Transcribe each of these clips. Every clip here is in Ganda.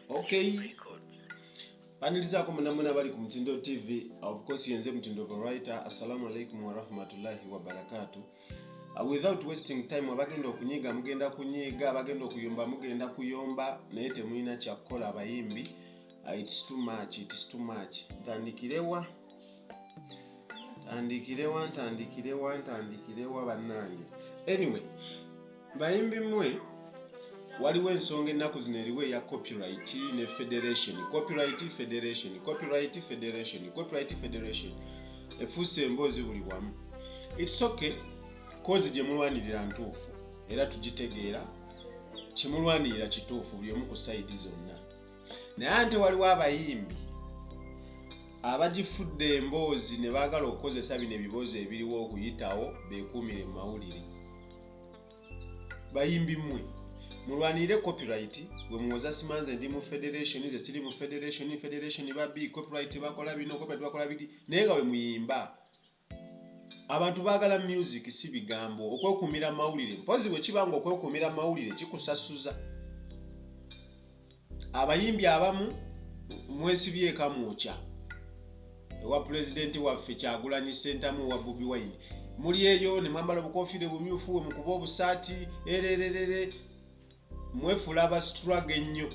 okay banirizaako munamuna bali ku mutindo tv of course yenze mutindo varitor assalamu alaikum warahmatullahi wabarakatu uh, without wasting time abagenda okunyiga mugenda kunyiga abagenda okuyomba mugenda kuyomba naye temulina kyakukola abayimbi uh, its too much its too much ntandikirewa tandikirewa ntandikirewa ntandikirewa bannange anyway bayimbi mwe waliwo ensonga ennaku zino eriwo eya copyright ne federation copyright federation copyright federation copyright federation efuuse emboozi buli wamu its okay kozi gye mulwanirira ntuufu era tugitegeera kimulwanirira kituufu buli omu ku sayidi zonna naye ante waliwo abayimbi abagifudde emboozi ne baagala okukozesa bino ebiboozi ebiriwo okuyitawo beekuumire mu mawulire bayimbi mmwe mulwanirire copyright gwe muwoza simanze ndi mu federation ze siri mu federation federation babi copyright bakola bino copyright bakola bidi naye nga we muyimba Abantu baagala myuziki si bigambo. Okwekuumira mawulire mpozzi bwe kiba ng'okwekuumira mawulire kikusasuza. Abayimbi abamu mwesibye ekamwokya ewa pulezidenti waffe Kyagulanyi Ssentamu owa Bobi Wine. Muli eyo ne mwambala obukofiira obumyufu we mukuba obusaati erererere mwefuula abasituraga ennyo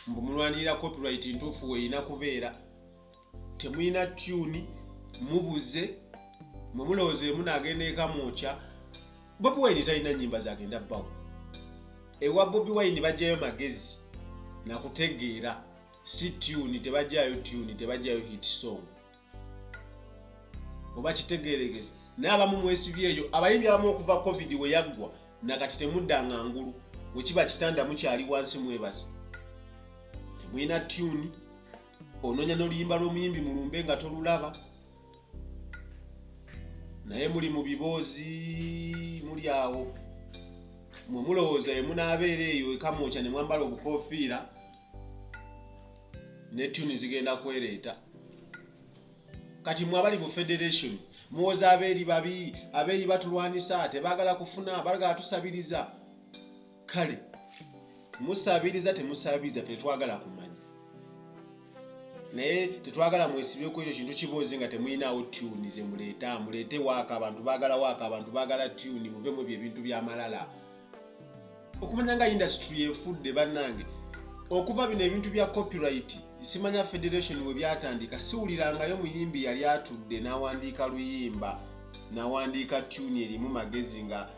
mbu mulwanirira copyright ntuufu weerina kubeera. temulina tyuni mubuze mwe mulowooza emu naagenda eka mwokya bobi wine talina nyimba zagenda bbawo ewa bobi wine bajjayo magezi nakutegeera si tyuni tebajjayo tyuni tebajjayo hit song oba kitegeeregezi naye abamu mwesibyeeyo abayimbi abamu okuva covid weyaggwa nakati temudda nga ngulu wekiba kitanda mukyali wansi mwebazi temulina tyuni ononya n'oluyimba lw'omuyimbi mulumbe nga tolulaba naye muli mu biboozi muli awo mwe mulowooza ye munaabeera eyo ekamwokya ne mwambala obukofiira ne tuni zigenda kwereeta kati mwe abali mu federation muwoza abeeri babi abeeri batulwanisa tebaagala kufuna bagala tusabiriza kale musabiriza temusabiriza fe tetwagala kumanya naye tetwagala mwesibeko ekyo kintu kiboozi nga temulinaawo tuni zemuleeta muleete waaka abantu bagala waaka abantu bagala tuni muvemu ebyo ebintu byamalala okumanya nga industry efudde bannange okuva bino ebintu bya copyright simanya federation we byatandika siwulirangayo muyimbi yali atudde n'awandiika luyimba nawandiika tuni erimu magezi nga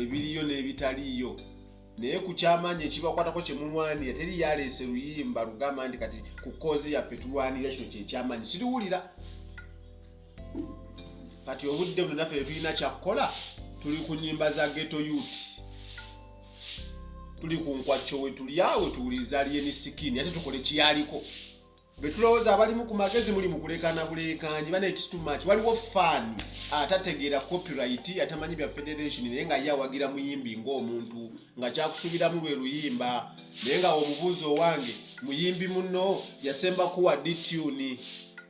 ebiriyo n'ebitaliiyo naye ku kyamaanyi ekibakwatako kye mulwanira teri yaleese luyimba lugamba nti kati ku koozi yaffe tulwanira kino kyekyamaanyi siriwulira kati obudde buno naffe tetulina kyakukola tuli ku nyimba za geto yut tuli ku nkwakyo wetulyawe tuwuliriza lyeni sikini ate tukole kiyaliko Betulowooza abalimu ku magezi muli mukulekana bulekanyi bana it's too much. Waliwo fan atategeera copyright atamanyi bya federation naye nga ye awagira muyimbi ng'omuntu nga kyakusuubiramu lwe luyimba naye nga omubuuzi owange muyimbi muno yasemba kuwa dituni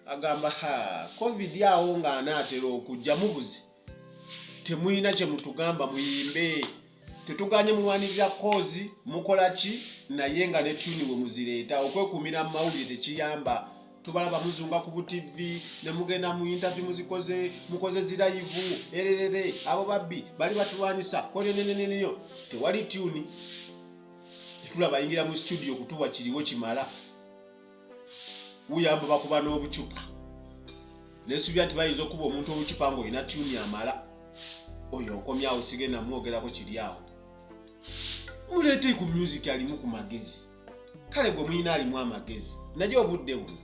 agamba ha covid awo ng'anaatera okujja mubuzi temuyina kyemutugamba muyimbe tetuganye mulwanirira koozi mukola ki naye nga ne tuni we muzireeta okwekumira mu mawulire tekiyamba tubalaba muzunga ku butivi ne mugenda mu intavi muzikoze mukoze zirayivu ererere abo babbi bali batulwanyisa koneneneneyo tewali tuni tetula bayingira mu situdiyo kutuwa kiriwo kimala uyamba bakuba n'obucupa nesubira nti bayinza okuba omuntu obucupa ngaolina tuni amala oyo okomyawo sigenda mwogerako kiri awo muleete ku music alimu ku magezi kale gwe muyina alimu amagezi naye obudde buno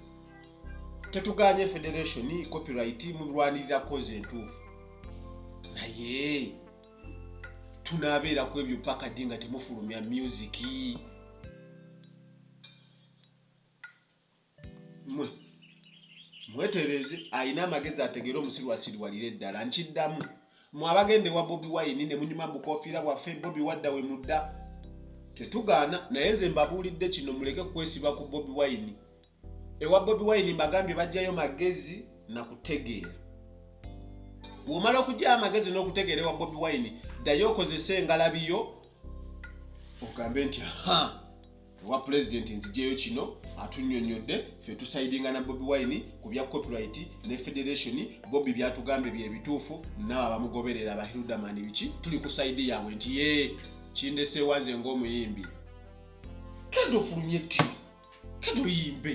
tetuganye federation copyright mulwanirira kozi entuufu naye tunabeera ku ebyo pakadi nga temufulumya musiki mwe mwetereeze alina amagezi ategeere omusiru asiriwalire eddala nkiddamu mwe abagenda ewa bobi wayini ne munyuma bukofiira bwaffe bobi wadda we mudda tetugaana naye nze mbabuulidde kino muleke kukwesiba ku bobi wayini ewa bobi wayini mbagambye bajjayo magezi na kutegeera womala okugyayo amagezi n'okutegeera ewa bobi wayini ddayo okozese engalabiyo ogambe nti ha ewa pulezidenti nzijeyo kino atunyonyodde ffe tusayidinga na bobi wine ku bya copyright ne federation bobi byatugambye byebituufu naawe abamugoberera bahirudamani biki tuli ku sayidi yaabwe nti ye kindeseewa nze ng'omuyimbi kendo ofulumye ti kendo oyimbe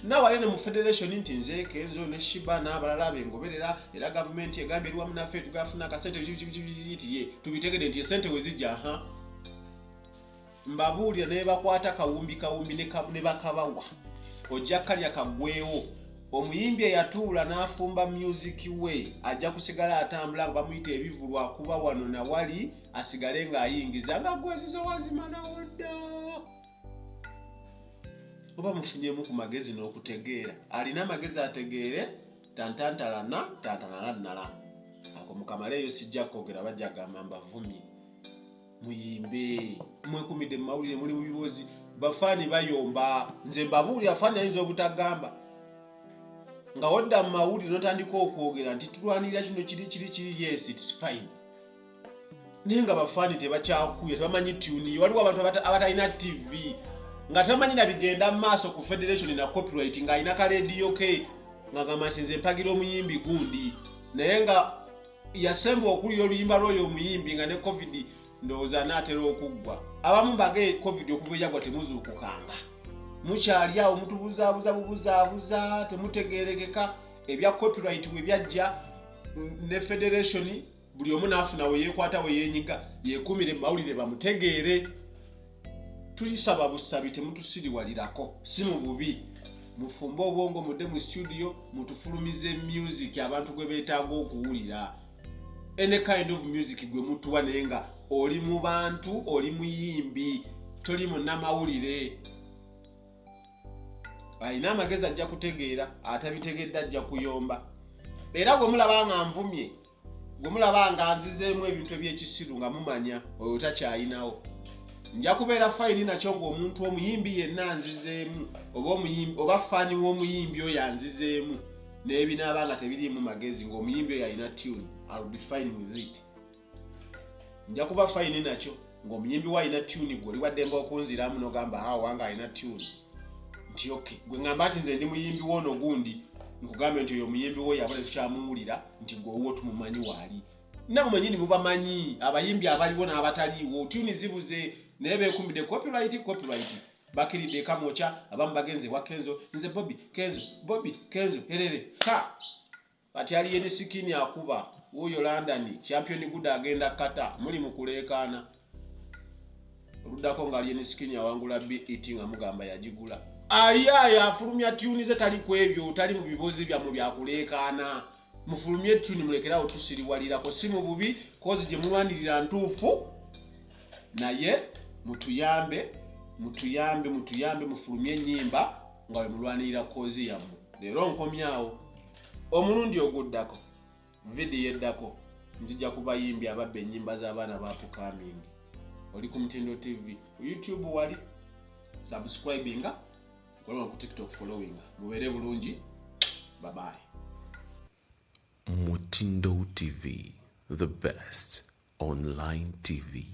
naawe ale ne mu federation nti nze kenzo ne shiba n'abalala bengoberera era gavumenti egambye eri wamu naffe tugafuna akasente ti ye tubitegede nti esente wezijja ha mbabuulira ne bakwata kawumbi kawumbi ne bakabawa ojja kalya kagwewo omuyimbi eyatuula n'afumba myuziki we ajja kusigala atambula nga bamuyita ebivulwa kuba wano na wali asigale ng'ayingiza nga gwezizo wazimanawo dda oba mufunyemu ku magezi n'okutegeera alina amagezi ategeere tantantalana tantanalannala ako mukamaleeyo sijja kwogera bajja gamba mbavumye muyimbe mwekumidde mu mawulire muli mu bibozi bafaani bayomba nze mbabuulira faani ayinza obutagamba nga wadda mu mawulire notandika okwogera nti tulwanirira kino kiri kiri kiri yes its fine naye nga bafaani tebakyakuya tebamanyi tuniyo waliwo abantu abatalina tv nga tamanyi na bigenda mu maaso ku federation na copyright ng'alina ka lediyo ke ng'agamba nti nze mpagira omuyimbi gundi naye nga yasemba okuwulira oluyimba lwoyo omuyimbi nga ne covid ndowooza anaatera okuggwa abamu mbage covid okuva eyagwa temuzuukukanga mukyali awo mutubuzaabuza bubuzaabuza temutegeerekeka ebya copyright bwe byajja ne federationi buli omu naafuna weyekwata weyenyiga yekumire mumawulire bamutegeere tuyisaba busabi temutusiriwalirako si mu bubi mufumbe obwongo mudde mu situdiyo mutufulumize music abantu gwe beetaaga okuwulira any kind of music gwe mutuwa naye nga oli mu bantu oli muyimbi toli munnamawulire alina amagezi ajja kutegeera atabitegedde ajja kuyomba era gwe mulaba nga nvumye gwe mulaba nga nzizeemu ebintu ebyekisiru nga mumanya oyo takyayinawo nja kubeera fayini nakyo ngaomuntu omuyimbi yenna anzizeemu oba fani w'omuyimbi oyo anzizeemu nebinaaba nga tebiriimu magezi ngaomuyimbi oyo alina tune albe fine with it nja kuba fayini nakyo ng'omuyimbi we alina tuni gwe oli waddemba okunziramu nogamba ha wange alina tuni nti ok gwe ngamba nti nze ndi muyimbi wo ono gundi nkugambe nti oyo omuyimbi wo yabula tukyamuwulira nti gwe owuwo tumumanyi waali nabo manyini mubamanyi abayimbi abaliwo n'abataliiwo tuni zibuze naye bekumbidde copyright copyright bakiridde ekamwokya abamu bagenze ewa kenzo nze bobi kenzo bobi kenzo herere ha Kati Alien Skin akuba wuuyo London, Champion Guda agenda Qatar, muli mu kuleekaana. Oluddako nga Alien Skin awangula BET nga mugamba yagigula. Ayaaye afulumya tyuni ze tali ku ebyo, tali mu bibozi byammwe bya kuleekaana. Mufulumye tyuni mulekerawo tusiriwalirako, si mu bubi kozi gye mulwanirira ntuufu naye mutuyambe mutuyambe mutuyambe mufulumye enyimba nga wemulwanirira kozi yammwe leero nkomyawo. omulundi oguddako vidiyo eddako nzija kubayimbi ababba ennyimba z'abaana bapukamingi oli ku mutindo tv ku youtube wali subscribinga kolaa ku tiktok followinga mubeere bulungi babayi mutindo tv the best online tv